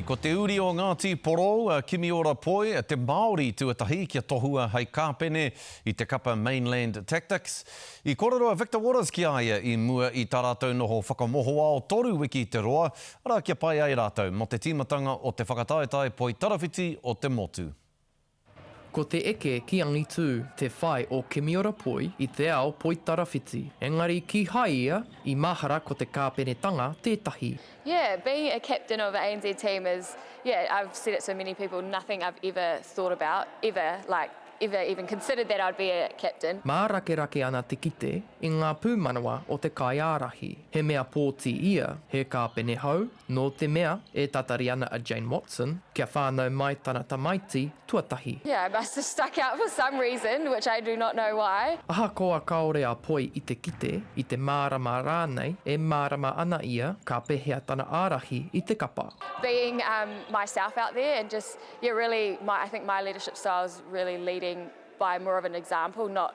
Ko te uri o Ngāti Porou a Kimiora Poi, te Māori tuatahi kia tohua hei kāpene i te kapa Mainland Tactics. I kōrero a Victor Waters ki a ia i mua i tā rātou noho whakamohoao toru wiki te roa, arā kia pai ai rātou mō te tīmatanga o te whakataetae poi tarawhiti o te motu. Ko te eke ki angitū te whai o Kimiora Poi i te ao Poitarawhiti, engari kīhai ia i mahara ko te kāpenetanga tētahi. Yeah, being a captain of a ANZ team is, yeah, I've said it so many people, nothing I've ever thought about, ever, like, ever even considered that I'd be a captain. Mārakerake ana te kite i ngā pūmanawa o te kaiārahi. He mea pōti ia, he kāpene hou, Nō te mea, e tatari ana a Jane Watson, kia whānau mai tana tamaiti tuatahi. Yeah, I must have stuck out for some reason, which I do not know why. Ahakoa kāore a Poi i te kite, i te mārama rānei, e mārama ana ia ka pehea tana ārahi i te kapa. Being myself out there and just, yeah, really, I think my leadership style is really leading by more of an example, not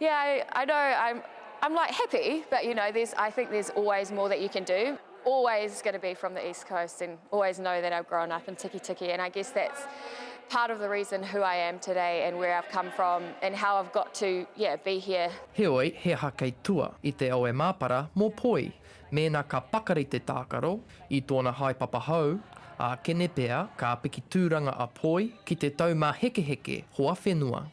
Yeah, I, I know, I'm, I'm like happy, but you know, there's, I think there's always more that you can do. Always going to be from the East Coast and always know that I've grown up in Tikitiki and I guess that's part of the reason who I am today and where I've come from and how I've got to, yeah, be here. Heoi, he aha kei tua i te awe māpara mō Poi? Mēnā ka pakari te tākaro i tōna haepapa hou, ākene pea, ka piki tūranga a Poi ki te taumāhekeheke hoa whenua.